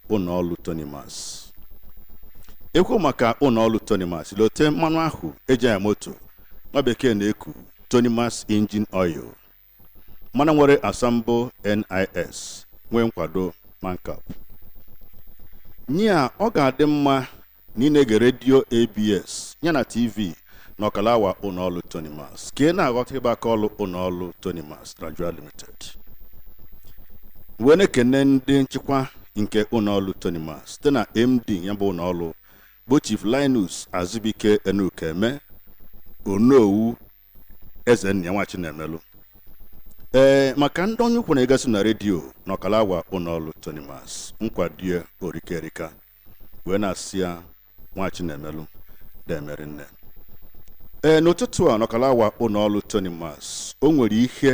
ụlọọrụ Tonimas ekwu maka ụlọọrụ Tonimas lote mmanụ ahụ eji anya moto nwa bekee na-eku Tonimas engine oil mmanụ nwere asambo NIS nwee nkwado MANCAP nya ọ ga-adị mma na ị na-ege redio ABS ya na TV n'ọkala awa ụlọọrụ Tonimas ka ị na-aghọta ịba aka ọrụ ụlọọrụ Tonimas Nigeria Limited. Wee na-ekene ndị nchịkwa nke ụlọọrụ Tonimas site na MD ya bụ ụlọọrụ bụ Chief Linus Azubike Enukeme Onowu Ezennia Nwachinemelu. Ee, maka ndị onye ukwu na-egasị na redio n'ọkala awa ụlọọrụ Tonimas nkwado ya o rika erika wee na-asị ya Nwachinemelu deeme rinne ee n'ụtụtụ a n'ọkala awa ụlọ ọrụ Tonimas o nwere ihe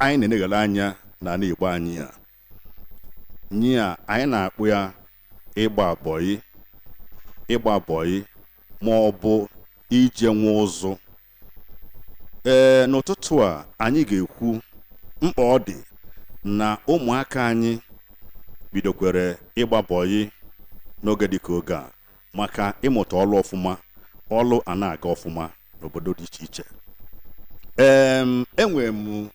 anyị na-eneghala anya n'ani Igbo anyị a nya anyị na-akpọ ya ịgba bọyị ịgba bọyị ma ọ bụ ije nwa ụzụ ee n'ụtụtụ a anyị ga-ekwu mkpa ọ dị na ụmụaka anyị bidokwara ịgba bọyị n'oge dịka oge a maka ịmụta ọlụ ọfụma ọlụ a na-aga ọfụma n'obodo dị iche iche ee enwere m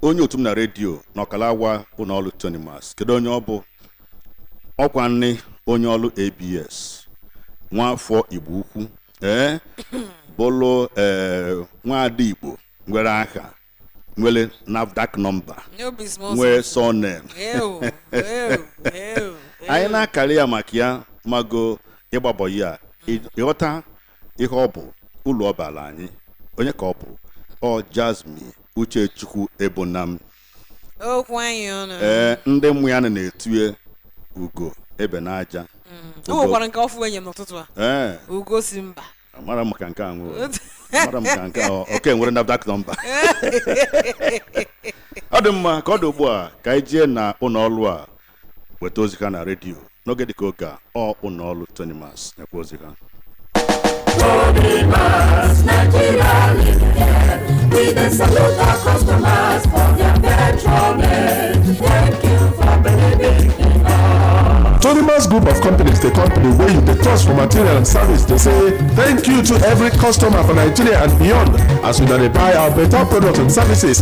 onye otu m na redio n'ọkala awa ụlọ ọrụ Tonimas kedu onye ọ bụ ọkwa nne onye ọrụ ABS nwa afọ Igbo Ukwu ee bụlụ ee nwaada igbo nwere aha nwere NAFDAC nọmba nwee surname Ew, ew, ew, anyị ew. na-akarị ya maka ya mago ịgba bọyị a ị- ịghọta ihe ọ bụ ulu ọ baala anyị onye ka ọ bụ ọ Jasmine Uchechukwu Ebonam okwu anyị ọnụ ee ndị mmụ ya nọ na-etu ya ugo ebe n'aja o nwekwara nke ọfụụ e nye m n'ụtụtụ a ee ugo si mba amara m maka nke ahụ amara m maka nke ahụ ọ nke nwere NAFDAC nọmba ọ dị mma ka ọ dị ugbu a ka anyị jee na ụlọ ọrụ a weta ozi ha na redio n'oge dịka oge a ọ ụlọ ọrụ Tonimas nyekwa ozi ha Tonimas Group of Companies, the company wey you dey trust for material and service, dey say thank you to every customer for Nigeria and beyond as una dey buy our better products and services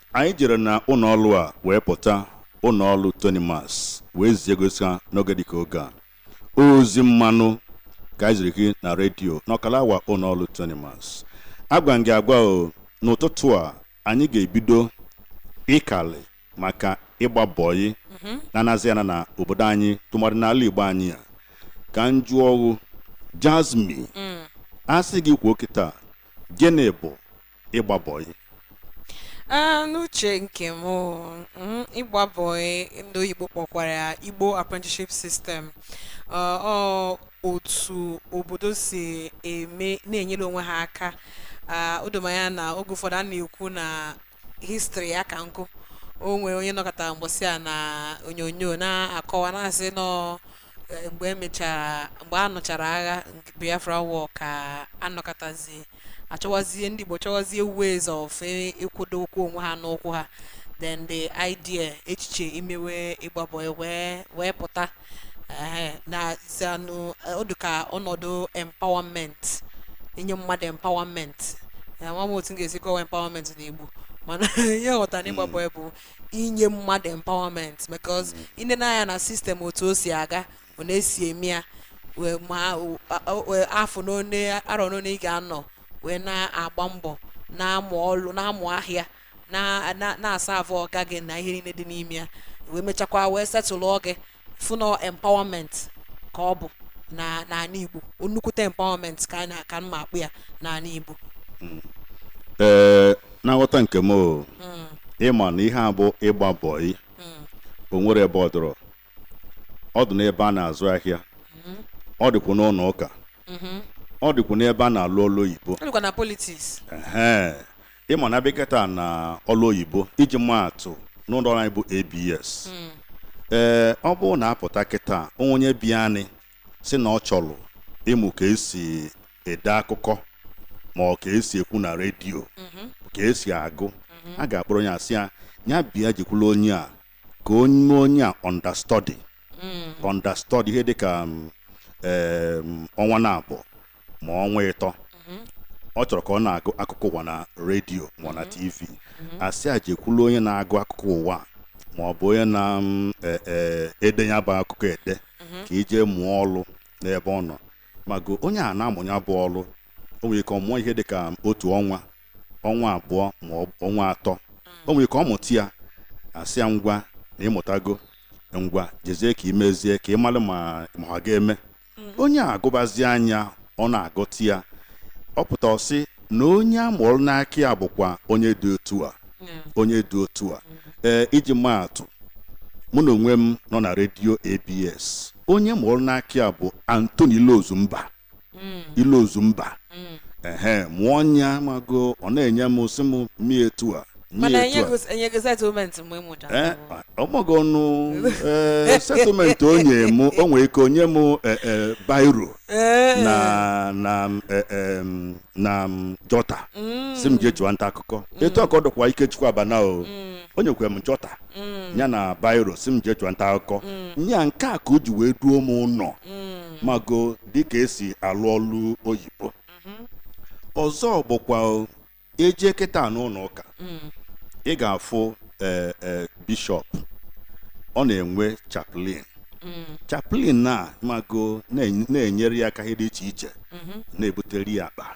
Anyị jere na ụlọọlụ a wee pụta ụlọọlụ Tonimas wee zie gosi ha n'oge dịka oge a. Ozi mmanụ ka anyị ziri gị na redio n'ọkala awa ụlọọlụ Tonimas. Agwa m gị agwa o n'ụtụtụ a anyị ga-ebido ịkalị maka ịgba bọyị na-anazi ana na obodo anyị tụmadị n'ala Igbo anyị a ka m jụọ ọghụ Jasmine a sị gị kwuo kịta gịnị bụ ịgba bọyị Ah, n'uche nke m o, mm, ịgba bọị ndị oyibo kpọkwara ya Igbo Apprenticeship System Ah, ọ otu obodo si eme na-enyere onwe ha aka Ah, o do m anya na oge ụfọdụ a na-ekwu na history ya ka m kwuo o nwere onye nọkatara mbọsị a na onyonyo na-akọwa na-asị na ọ eh, mgbe emechara mgbe a nụchara agha Biafra war ka a nọkatazie achọwazie ndị Igbo chọwazie ways of eh, ịkwụdo ụkwụ onwe ha n'ụkwụ ha then the idea echiche imewe ịgba bọị wee wee pụta na zanụ ọ dụ ka ọnọdụ empowerment inye mmadụ empowerment ama m otu m ga-esi kọwa empowerment n'Igbo mana ihe m ghọtara na ịgba bọị bụ inye mmadụ empowerment because i nee nya anya na system otu o si aga ọ na-esi eme ya wee ma o- a- o- wee afọ n'one arọ n'one ị ga-anọ wee na-agba mbọ na-amụ ọlụ na-amụ ahịa na- na- na-aserve ọga gị na ihe niile dị n'ime ya wee mechakwa wee setụlụọ gị form of empowerment ka ọ bụ na n'ala Igbo nnukwute empowerment ka m ma-akpọ ya n'ala Igbo hmm. ee na nghọta nke m hmm. ịma na ihe a bụ ịgba bọị hmm. o nwerọ ebe ọ dịrọ ọ dị n'ebe a na-azụ ahịa ọ dịkwa n'ụlọ ụka ọ dịkwa n'ebe a na-alụ ọlụ oyibo ịma na a bịa kịta na ọlụ oyibo iji maa atụ n'ụlọ ọrụ anyị bụ ABS ee ọ bụrụ na a pụta kịta o nwee onye bịanụ sị na ọ chọrọ ịmụ ka esi ede akụkọ ma ọ ka esi ekwu na redio ka esi agụ a ga-akpọrọ onye a sị ya ya bịa jekwulu onye a ka o mee onye a understudy understudy ihe dịka um, em, ọnwa naabọ ma ọnwa ịtọ ọ chọrọ ka ọ na-agụ akụkọ ụwa na redio ma ọ na TV a sị ya jekwulu onye na-agụ akụkọ ụwa a, ma ọ bụ onye na-ede ya bụ akụkọ ede ka i jee mụọ ọlụ n'ebe ọ nọ mago onye a na-amụ ya bụ ọlụ o nwere ike ọ mụọ ihe dị ka otu ọnwa ọnwa abụọ ma ọ bụ ọnwa atọ o nwere ike ọ mụta ya a sị ya ngwa na ị mụtago ngwa jezie ka i mezie ka ị mara ma ma ọ ga-eme mm. onye a agụbazi anya ọ na-aghọta ya ọ pụta ọ sị na onye a mụrụ n'aka ya bụkwa onye dị otu a onye dị otu a mm. ee iji maa atụ mụ na onwe m nọ na redio ABS onye m mụrụ n'aka ya bụ Anthony Ilozumba mm. Ilozumba ehe mụ ọ nya mago ọ na-enye m sị m mie etu a mana enyeghị settlement mgbe m mụchara eh, ọmọgọ ọnụ eh, settlement o nye m o nwere ike o nye m eh, bairo na na na jọta mm. sị m jee chụwa nta akụkọ mm. etu a ka ọ dịkwa Ikechukwu Abana o mm. o nyekwa m jọta ya na bairo sị m jee chụwa nta akụkọ nya nke a ka o ji wee duo m ụnọ mago dịka e si alụ ọlụ oyibo mm-hmm. ọzọ bụkwa e jee kịta n'ụnọ ụka mm. ị ga-afụ e, e, bishọp ọ na-enwe chaplain mm. chaplain na mago na-enyere ya aka ihe dị iche iche mm-hmm. na-ebutere ya akpa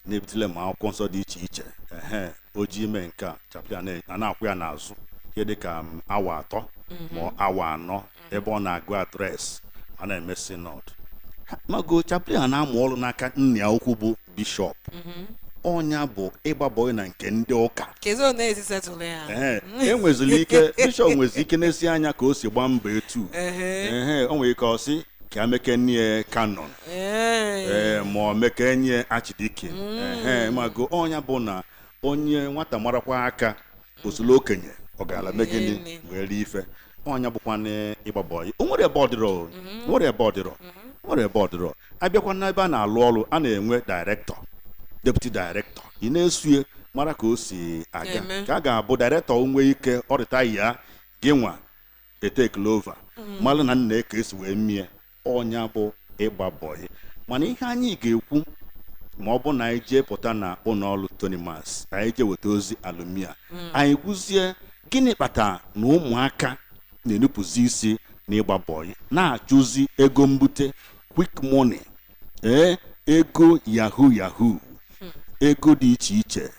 na-ebutele ma akwụkwọ nsọ dị iche iche ehe o ji ime nke a chaplain a na-akwụ ya n'azụ ihe dị ka awa atọ mm-hmm. ma awa anọ ebe ọ na-agụ adreesị a na-eme synod mago chaplain a na-amụ ọrụ n'aka nna ya ukwu bụ bishọp ọ nya bụ ịgba bọyị na nke ndị ụka Kezi ọ na-ezisetụlụ ya. Ehe, e nweziri ike bishọp nwezi ike nesie anya ka o si gbaa mbọ etu Ehe. Ehe, o nwere ike ọ sị ka e mekene ya canon Ee. ee ma ọ mekene ya archdeacon ehe mago ọ nya bụ na onye nwata mara kwọọ aka osolo okenye ọ gaala mee gịnị wee rie ife ọnya bụkwa n'ịgba bọyị o nwere ebe ọdịrọ o nwere ebe ọdịrọ o nwere ebe ọdịrọ abịakwa n'ebe a na-alụ ọrụ a na-enwe dairektọ deputi dairektọ ị na-esue mara ka o si aga Na-eme. ka a ga-abụ dairektọ nwee ike ọrịta ya gị nwa etekele over malụ na nna ka e si wee mie ọ nya bụ ịgba bọyị mana ihe anyị ga-ekwu ma ọ bụ na anyị jee pụta na ụnọ ọrụ Tonimas anyị jee weta ozi alumia anyị kwuzie gịnị kpatara na ụmụaka na-enupụzi isi na ịgba bọyị na-achụzi ego mbute quick money ee ego yahoo yahoo ego dị iche iche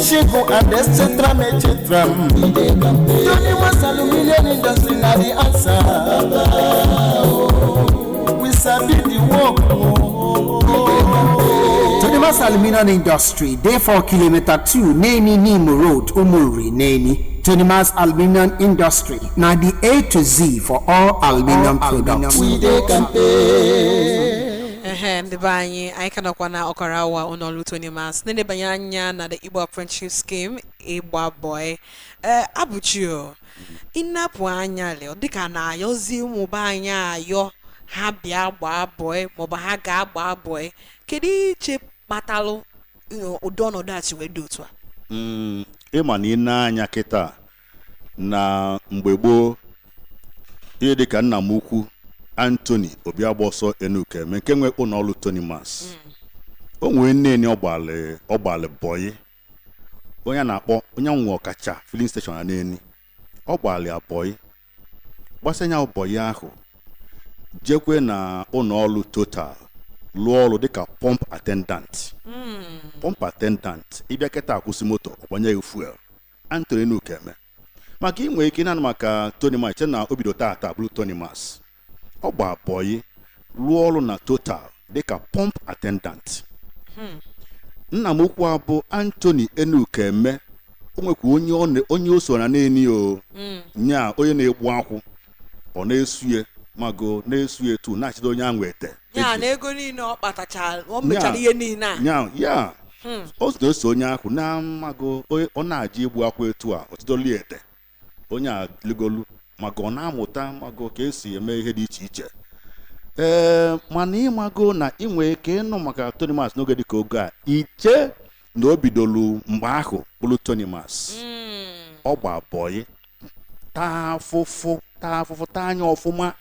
Shiku and etc. etc. Tonimas aluminium industry na the answer. We sabi the work. Tonimas aluminium industry dey for kilometer two Neni Nimo road Umuri Neni. Tonimas aluminium industry na the A to Z for all aluminium products. We dey kampe. ehe ndị be anyị anyị ka nọkwa na ọkara awa ụlọ ọrụ Toni ma sị na-elebanye anya na the Igbo Apprenticeship Scheme ịgba bọị ee Abụchi o ị nepụ anya ọ dịka na-ayọzi ụmụaka anyị ayọ ha bịa gbaa bọị maọbụ ha gaa gbaa bọị kedu i che kpatalụ you know, ụdị ọnọdụ a si wee dị otu a Mm, ịma na ị nee anya kịta na mgbe gboo ihe dịka nna m ukwu Anthony Obiagbọsọ Enukeme nke nwe ụlọ ọrụ Tonimas o nwee na Neni ọ gbalị bọyị onye a na-akpọ onye nwe Ọkacha filling station na Neni ọ gbalị ya bọyị gbasịa ya bọyị ahụ jekwe na ụlọ ọrụ Total lụọ ọrụ dịka pump attendant pump attendant ị bịa kịta akwụsị moto ọ gbanye gị fuel Anthony Enukeme maka ị nwere ike ị na-anụ maka Tonimas chee na o bido tata bụrụ Tonimas ọ gbaa bọyị rụọ ọrụ na Total dịka pump attendant nna m ukwu a bụ Anthony Enukeme o nwekwa onye ọ na- onye o so na Neni o nya onye na-egbu akwụ ọ na-eso ya mago na-eso ya etu na-achịdo onye ahụ ete ya na ego niile ọ kpatachara ọ mechara ihe niile a ya ya hmm. o na-eso onye ahụ na mago ọ na-eje igbu akwụ etu a ọ chịdoli ete onye a ligolu maka ọ na-amụta mago ka e si eme ihe dị iche iche ee mana ị mago na ị nwere ike ịnụ maka Tonimas n'oge dịka oge a i chee na o bidolu mgbe ahụ bụrụ Tonimas ọ gbaa bọyị taa afụfụ taa afụfụ taa anya ọfụma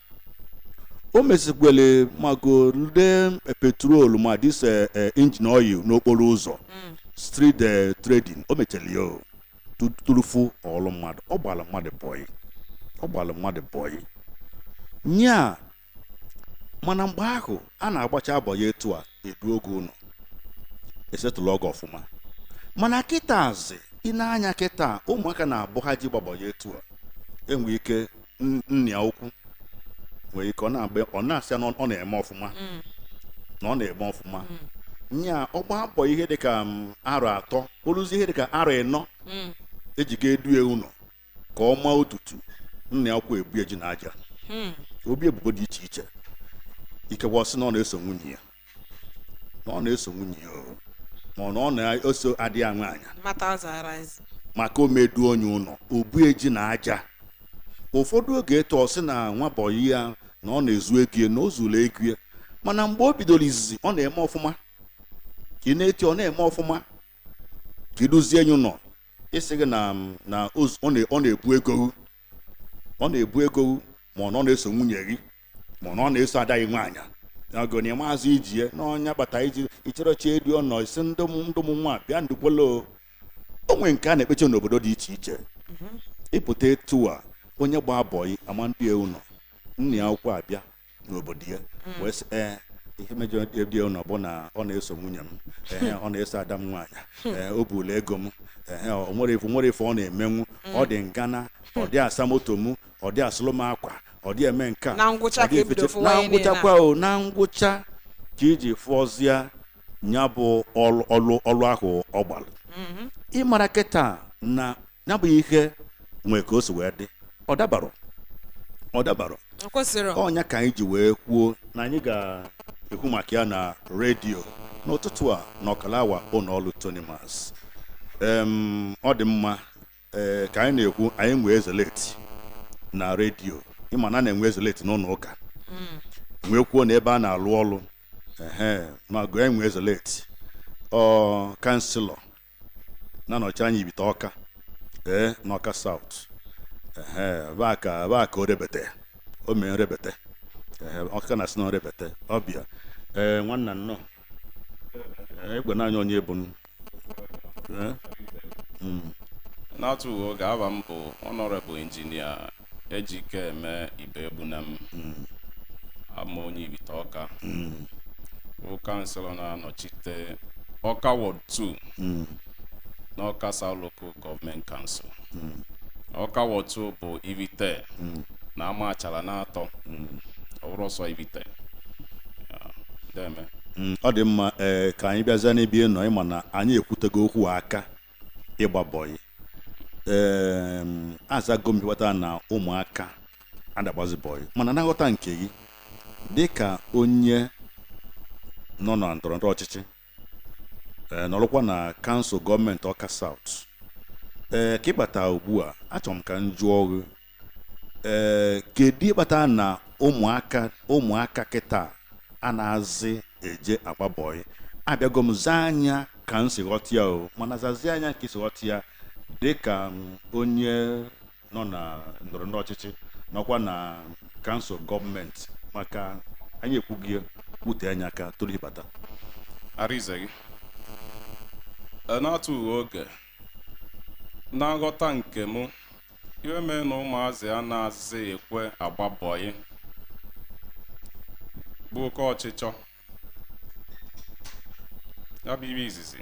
o mesikwele mago nde petrol ma dis eh, eh, engine oil n'okporo ụzọ street eh, trading o mechara ya o tu- tupu ọ bụlụ mmadụ ọ gbara mmadụ bọyị ọ gbara mmadụ bọyị nya mana mgbe ahụ a na-agbacha bọyị etu a e duo gị ụnọ e settle ọ gị ọfụma mana kịtazị ị nee anya kịta ụmụaka na-abụ ha je gbaa bọyị etu a enwe ike n- nna ya ukwu nwere ike ọ na-agba ọ na-asị ya na ọ na-eme ọfụma na ọ na-eme ọfụma nya ọ gbaa bọyị ihe dịka m, arọ atọ o luzie ihe dịka arọ ịnọ e ji ga-edu ya ụlọ ka ọ maa ọtụtụ nna ya ukwu ebo ya ji na aja hmm. o bo ya ebubo dị iche iche ikekwe ọ sị na ọ na-eso nwunye ya na ọ na-eso nwunye ya ma ọ na ọ na-eso ada ya nwaanyị maka ọ ma-edu onye ụlọ o bo ya ji na aja ụfọdụ oge etu ọ sị na nwa bọyị ya na ọ na-ezu ego ya na o zuru ego ya mana mgbe o bidoro izizi ọ na-eme ọfụma ka ị na-eti ọ na-eme ọfụma ka e duzie ya ụnọ ịsị gị na na ọ na-ebu ego ọ na-ebu ego ma ọ na-eso nwunye gị ma ọ na-eso ada gị nwaanyị n'ogoni maazị ijie na ọ nya kpata iji icherechi edu ụnọ isi ndị ụmụ nwa bịa ndukwolo o nwere nke a na-ekpecha n'obodo dị iche iche mm-hmm. ị pụta etu a onye gba bọyị ama ndị ụnọ nna ya akwụkwọ abịa n'obodo ya mm. wee sị ee ihe m ejirọ du ụlọ bụ na ọ na-eso nwunye m ee ọ na-eso ada m nwaanyị hmm. ee o buru ego m ee o nwere ife nwere ife ọ na-emenwu hmm. ọ dị ngana ọ dị asa moto m ọ dị asụlụ m akwa ọ dị eme nke a na ngwụchakwa o na ngwụcha ka iji fụọzie nya bụ ọlụ ọlụ ahụ ọ gbalụ mm-hmm. ị mara kịta na ya bụ ihe nwee ka o si wee dị ọ dabarọ ọ dabarọ ọ kwesịrị ọ nya ka anyị ji wee kwuo na anyị ga-ekwu maka ya na redio n'ụtụtụ a na ọkara awa ụlọ ọrụ Tonimas ọ dị mma ee eh, ka anyị na-ekwu anyị nwee ezeleti na redio ị ma na a na-enwe ezeleti n'ụlọ ụka hmm. nwekwuo n'ebe a na-alụ ọrụ ma gụọ enwe ezeleti ọ kanselọ na-anọchi anya ibite ọka ee n'ọka south baka orebete o mee nrebete ọka na-asị na nrebete ọbịa ee nwanna nnọọ ị gwanụ anyị onye ị bụ n'atufughị oge aba m bụ Honourable Engineer Ejikeme Ibegbunam abụ m onye ibite ọka bụ kanselọ na-anọchite ọka ward 2 n'ọka south local government council ọka ward 2 bụ ibite na Amachara n'atọ ọ bụrọ sọ ibite Ya, deme Mm, ọ dị mma ee ka anyị bịazie n'ebe ị nọ ị ma na anyị ekwutego okwu maka ịgba bọyị ee azago m ihe kpata na ụmụaka ada agbazi bọyị mana na nghọta nke gị dị ka onye nọ na ndọrọ ndọrọ ọchịchị ee nọrọkwa na kansụl gọọmenti ọka south ee ka ị bata ugbu a achọrọ m ka m jụọ gị ee eh, kedu ihe kpata na ụmụaka ụmụaka kịta anazị eje agba bọyị abịago m zaa nya ka m si ghọta ya o mana zazie nya ka i si ghọta ya dịka onye nọ na ndọrọ ndọrọ ọchịchị nọkwa na kansụl gọọmenti maka anyị ekwughị wute nya aka tupu ị bata gị n'atufughị oge Na nghọta nke m, ihe mee na ụmụazị anazị ekwe agba bọyị bụ oke ọchịchọ. Ya bụ ihe izizi.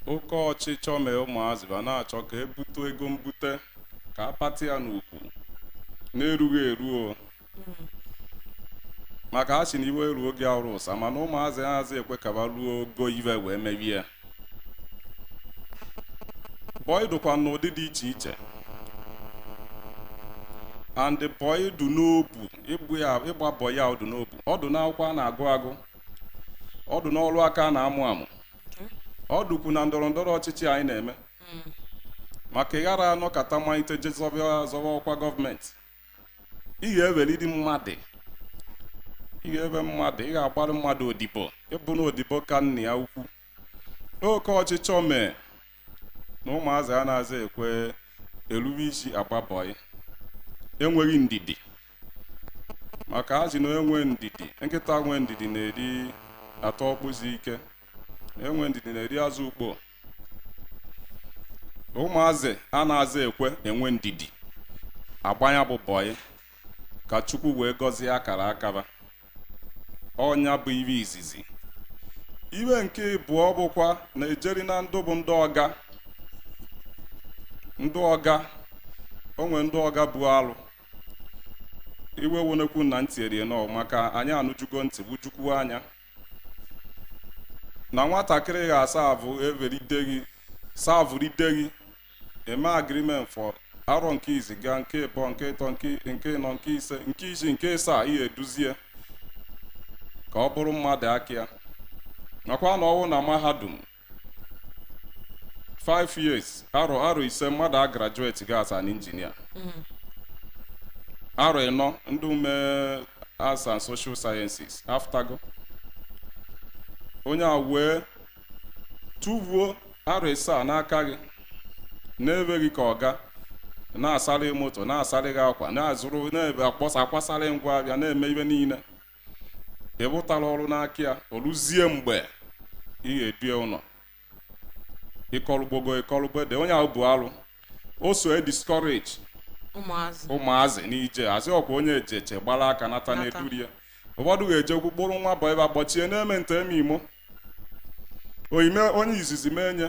Oke ọchịchọ mee ụmụazị ba na-achọ ka e bute ego mbute ka a pati ya n'ukwu na-erughị eru o maka a sị na iwe eruo oge arụ ụsa mana ụmụazị azị ekwe ka ba ruo ogo iwe wee mewe ya bọyị dụkwa n'ụdị dị iche iche and bọyị dụ n'obu ịgba bọyị a ọ dụ n'obu ọ dụ n'akwụkwọ a na-agụ agụ ọ dụ n'ọrụ aka a na-amụ amụ ọ dụkwu na ndọrọ ndọrọ ọchịchị anyị na-eme maka ị ghara anọkata malite je zọba zọba ọkwa gọọmenti ị ga-ewelidi mmadụ ị ga-ewe mmadụ ị ga-agbara mmadụ odibo ịbụ na odibo ka nna ya ukwu oke ọchịchọ mee na ụmụazị anazị ekwe erube isi agba bọyị enweghị ndidi maka a sị na enwe ndidi nkịta nwe ndidi na-eri ata ọkpụ si ike enwe ndidi na-eri azụ ukpo ụmụazị anazị ekwe enwe ndidi agba nya bụ bọyị ka chukwu wee gọzie akara aka ba ọ nya bụ iwe izizi iwe nke ịbụọ bụkwa na e jeri na ndụ bụ ndị ọga ndị ọga o nwe ndị ọga bụ alụ iwe wonekwu na ntị erie nọ maka anyị anụjugo ntị wụjukwuo anya na nwatakịrị ga-asavụ everide gị savụride gị e mee agreement for arọ nke izi gaa nke ịbọ nke ịtọ nke nke ịnọ nke ise nke isii nke ịsaa ị ga-eduzie ka ọ bụrụ mmadụ aka ya nakwa na ọwụna mahadum five years arọ arọ ise mmadụ a graduatego as an engineer arọ ịnọ ndị ume arts and social sciences apụtago onye a wee tụvuo arọ ịsaa n'aka gị na be gị ka ọ ga na-asarị moto na-asarị gị akwa na-azụrụ na-ebe akpọsa akwasarị ngwa ahịa na-eme iwe niile ị wụtara ọrụ n'aka ya o ruzie mgbe ị ga-edu ya ụlọ ịkọlụgbogo ịkọlụgbo ede onye ahụ bụ alụ o so e discourage ụmụazị ụmụazị n'ije ozi ọkwa onye ejeche gbara aka nata na-eduri ya ụfọdụ ga-ejekwu kpọrọ nwa bọyị ba kpọchie na-eme nta eme imo oyime onye izizi mee nye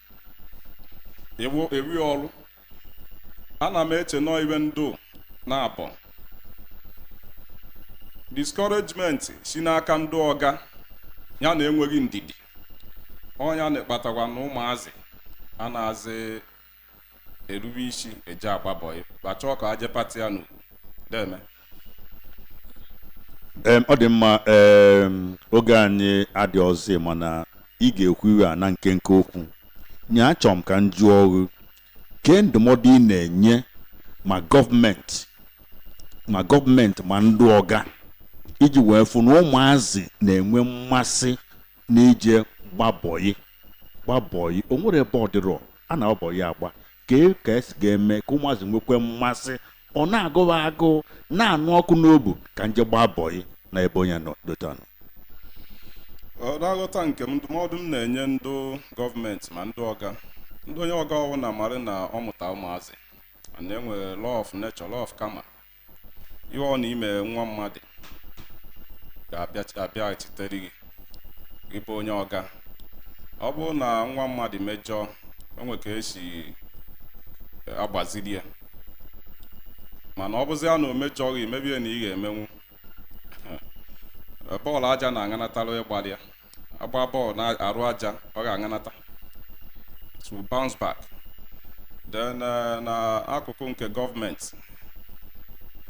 ewu ewi ọrụ ana m eche na ọ ive ndị naabọ discouragement si n'aka ndị ọga ya na enweghị ndidi ọ nya na-akpatakwa na ụmụazị anaazị erube isi eje agba bọị ba chọọ ka e je pata ya n'ugwu deeme ọ dị mma oge anyị adịrọzị mana ị ga-ekwu ive a na nkenke okwu nye achọrọ m ka m jụọ ghụ kee ndụmọdụ ị na-enye ma gọọmenti ma gọọmenti ma ndị ọga iji wee fụ na ụmụazị na-enwe mmasị n'ije gba bọyị ịgba bọyị o nwere ebe ọ dịrọ a na-agba bọyị agba kee ka e si ga-eme ka ụmụazị nwekwe mmasị ọ na-agụ wa agụụ na-anụ ọkụ n'obu ka m je gbaa bọyị na ebe onye nọ dota nọ n'aghọta nke m ndụmọdụ m na-enye ndị gọọmenti ma ndị ọga ndị onye ọga ọ wụna marị na ọ mụta ụmụazị na e nwere law of nature law of karma ihe ọ bụna i me nwa mmadụ ga-abịaghachitere gị ị bụ onye ọga ọ bụrụ na nwa mmadụ mejọọ o nwe ka e si agbaziri ya mana ọ bụzi ya na o mejọọ gị i mebie na ị ga-emenwu bọọlụ aja na-aṅanatara ịgbalị ya a gbaa bọọlụ n'arụ aja ọ ga-aṅanata it will bounce back then eh, na akụkụ nke gọọmenti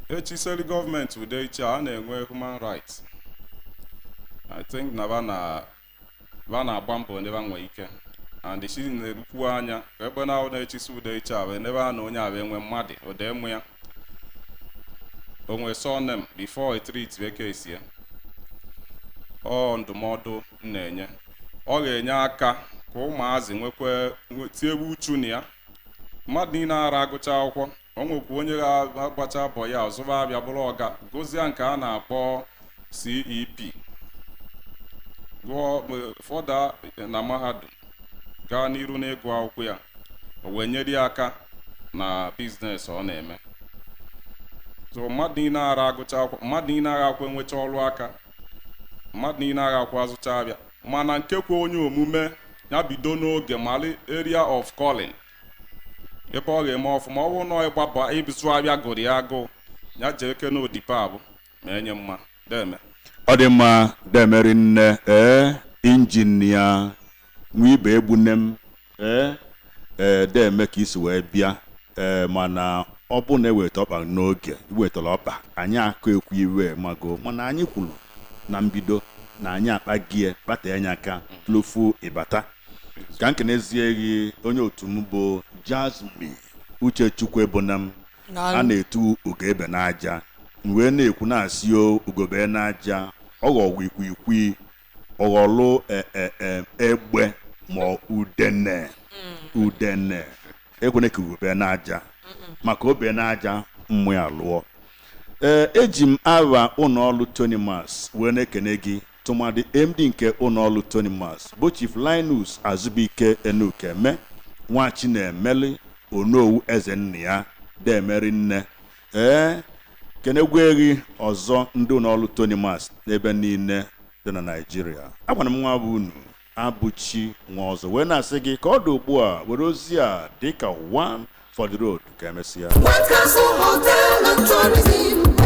echiseri gọọmenti ụdị issue a na-enwe human rights i think na ba na ba na-agba mbọ n'ebe a nwee ike and si na-erukwu anya ebe na ahụ na-echisi ụdị issue a wee n'ebe a na onye a wee nwee mmadụ ode mụ ya o nwere surname before e treat case ya ọ ndụmọdụ m na-enye ọ ga-enye aka ka ụmụazị nwekwa tinyebe uchu na ya mmadụ niile ara agụcha akwụkwọ o nwekwa onye ga-agbacha bọyị ọ zụba avịa bụrụ ọga gụzie nke a na-akpọ CEP gụọ further na mahadum gaa n'iru n'ịgụ akwụkwọ ya o wee nyere ya aka na biznes ọ na-eme so mmadụ niile ara agụcha akwụkwọ mmadụ niile agha akwụ enwecha ọrụ aka mmadụ niile agha akwụ azụcha avịa mana nke kwe onye omume ya bido n'oge malị area of calling ebe ọ ga-eme ọfụma ọ bụrụ na ịgba bọyị ịzụ avịa gụrụ ya agụụ ya jee kene odipe abụ na-enye mma deeme ọ dị mma deeme rinne ee injinia Nwibe Egbunam ee ee deeme ka i si wee bịa ee mana ọ bụrụ na e weta ọkpa n'oge i wetara ọkpa anyị aka ekwu iwe mago mana anyị kwuru na mbido na anyị akpa gie kpata anya aka tụlụfu ịbata ka m kenezie gị onye otu m bụ Jasmine Uchechukwu Egbunam a na-etu ugo be n'aja m wee na-ekwu na-asị o ugo be n'aja ọ ghọwa ikwikwii ọ ghọlụ e, e, e, egbe ma ọ udene udene ekwene ka ugo be n'aja maka o be n'aja mma ya alụọ ee eji m aha ụlọ ọrụ Tonimas wee na-ekene gị tụmadị MD nke ụlọọrụ Tonimas bụ Chief Linus Azụbụike Enukeme Nwachinemelu Onowu eze nna ya deeme rinne ee kenekwue gị ọzọ ndị ụlọọrụ Tonimas n'ebe niile dị na Naịjirịa agwara m nwa bụ unu abụchi nwa ọzọ wee na-asị gị ka ọ dị ugbu a were ozi a dịka one for the road ka emesịa White Castle Hotel and Tourism.